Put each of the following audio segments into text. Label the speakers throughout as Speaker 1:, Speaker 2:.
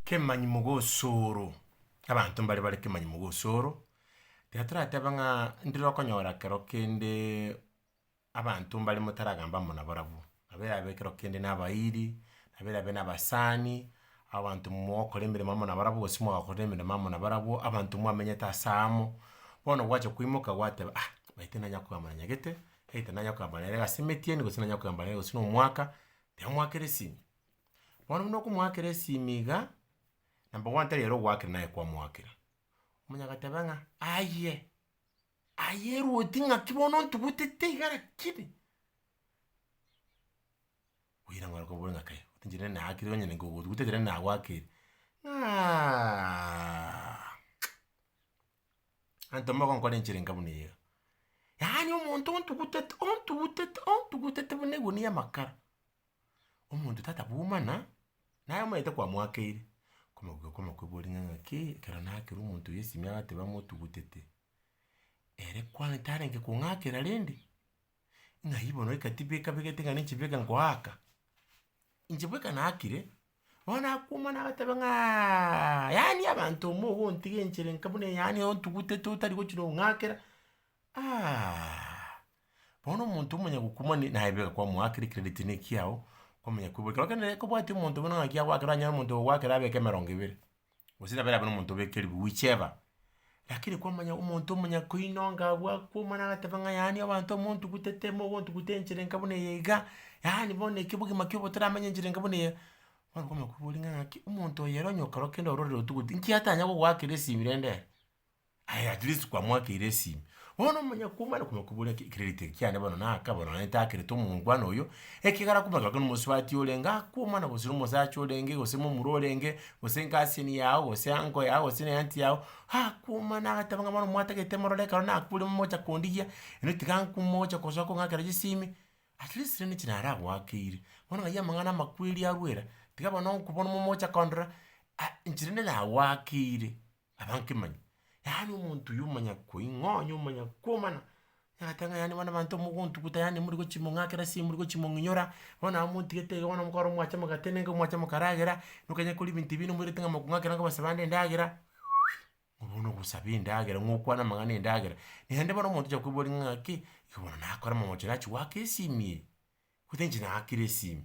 Speaker 1: Kemanyimo gosoro, abanto mbare bare kemanyimo gosoro, tiga toratebe ng'a ndire okonyora ekero kende abanto mbare motaragamba amo nabarabwo, nabo erabe ekero kende na abairi, nabo erabe na abasani, abanto mogokora emeremo amo nabarabwo gose mwagakorire emeremo amo nabarabwo, abanto mwamenyete ase amo, bono gwacha koimoka gwateba ah, omanyete nanya kogamba na nyagete, either nanya kogamba nere gose emetiani gose nanya kogamba nere gose na omwaka, tiga mwakera esimi. Bono buna okomoakera esimi iga, nabo bono tari ere ogoakera naye kwamoakera, omonto agateba ng'a aye, aye erwoti ng'aki bono ontugutete iga rakini, oira ng'ora kobua ng'a kai, otinchire nende naakire onye nabo ogotuguteire nende nagoakire, ng'aaaa anto mogo nkore enchera enka buna eyio iga. Yaani omonto ontugutete ontugutete ontugutete buna egunia y'amakara. omonto tata bwomana, naye omanyete kwamoakeire, komokuga komokoboria ng'a ng'aki ekero nakera omonto oyo esime agateba amotugutete, ere kwani tarenge kong'akera rende, ng'a aye bono eka tibeka begete ng'a ninche beka ngoaka, inche bweka naakire, bono nakwomana agateba ng'aaaa yaani abanto omo ogontiga enchera enka buna eye yaani ontugutete otari gochia nong'akera aahhaaaa. Bono omonto omanya gokuma ne naye bweka kwamoakire credit ne ekiao, kwamanya koiborwa ekero kende kobwati omonto buna ng'aki agoakera onye omonto ogoakera abeke emerongo ebere, gose nabere abe na omonto obeke eribu whichever, lakini kwamanya omonto omanya koinonga abwo akokuma na agateba ng'a yaani abanto montugutete mogontugutera enchera enka buna eye iga, yaani bono eki obogima kiobo toramenya enchera enka buna eye, bono kwamanya koiboria ng'a ng'aki omonto oyo ere onye ekero kende ororire otugutire, inki atanya gogoakera esimi rende ere. aye at least kwamoakeire esimi. Bono omonyakwo omare konya kobora ki credit eke kiane bono naka bono naende takereti omongwana oyo, ekegara akomanya gaki nomosubati orenge akwo omwana gose nomosacha orenge gose momura orenge, gose guardian yago gose uncle yago gose ne aunty yago, akwomana agateba ng'a bono mwatagete morore ekero nakwire momocha kondigia, ere tiga ankwo mogocha gosoa kong'akera chisimi, at least rende inche nare agoakeire. Bono ng'ai amang'ana amakweri arwera, tiga bono onkwo bono momocha kondora, ah inche rende nagoakeire. abankemanyi, yaani omonto oyo omanyakoing'onya, omanyakomana, nagoteba ng'a yaani bono abanto mogontuguta yaani morigochimong'akera ase morigchimong'inyora, bono nabo montigete iga bono mokoro mwacha mogate nenge mwacha mokaragera, nokonyia kori ebinto ebi nomoirete ng'a mokong'akera nonye kobasa bande endagera, ng'a bono ogosaba endagera, ng'a okwane amang'ana endagera, naende bono omonto ocha koigwa ore ng'aki, iga bono nakore amamocho nachi goaka esimi eye, gose inche naakire esimi.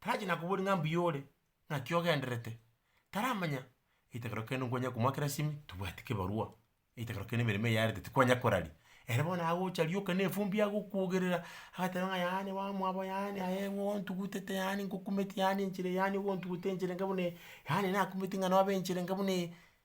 Speaker 1: Tarachi nakoboria ng'a mbuya ore, ng'aki ogenderete, taramanya, ritokero kende nkwanyare komoa kera simi, tobwati kebarua, ritokero kende emeremo eyarete tikwanya koraria, ere bono agocha rioka na efumbi agokwogerera, agateba ng'a yaani wa mwabo yaani aye ng'o ontugutete yaani nkokumeti yaani enchera eye yaani ogontugutera enchera enga buna eye, yaani nakumeti ng'a nobe enchera enga buna eye.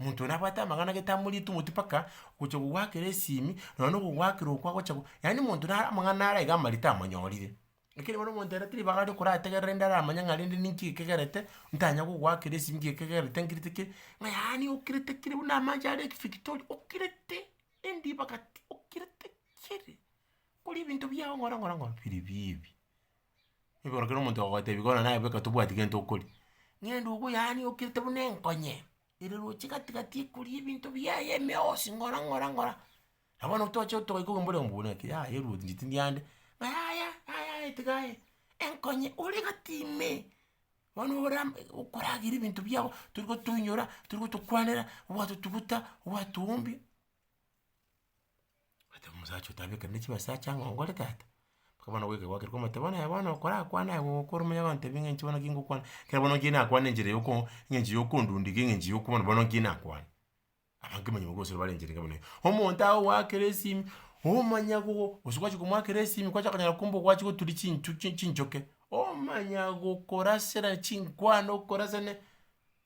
Speaker 1: Omonto oyo nabwate amang'ana gete amoriete omoti mpaka gocha kogwakera esimi, nonya na okogwakera okwo agocha go yaani omonto nare amang'ana nare iga amarito tamanyorire. Lakini bono omonto ere tari ribaga aria okorategerera rende aramanye ng'a rende ninki ekegerete, ntanya kogwakera esimi nki ekegerete nkirite ki, ng'a yaani okirete kiri buna amache are lake Victoria, okirete endi ebagati, okirete kiri, kore ebinto biao ng'ora ng'ora ng'ora biiri bibi. Igoro kera omonto ogotebi bono naye boka tobwati gento okoria, ng'ende obo yaani okirete buna enkonye, ere roche gati gati ekoria ebinto biaye emeosi ng'ora ng'ora ng'ora, na bono toche togaika obo mbore buna ki yaya ruothi inche tindi ande, ng'a yaya yaya yaya tiga aye, enkonye ore gati ime, bono ora okoragera ebinto biago tori gotoinyora, tori gotokwanera, ogwatotuguta, ogwatowombia. Agateba omosacha ote, Abeke rende chibesa ache ang'e ongore tata. Mpaka bono goika gwakire kwamoteba, bono yaya bono okorakwane aye gokora omonyabwanto ebi ng'enche bono ki ngokwana, ekero bono nki nakwane enchera ya oko eng'encho ya okondundeka eng'encho ya okobana bono nki nakwane. Abanto manya bagosira bare enchera enga buna eye. Omonto aye ogoakera esimi, omanyago gose gwachia komoakera esimi kwachaka konyora kumbe ogwachire goturia chinchuki chinchoke, omanya gokorasera chinkwana okorasane.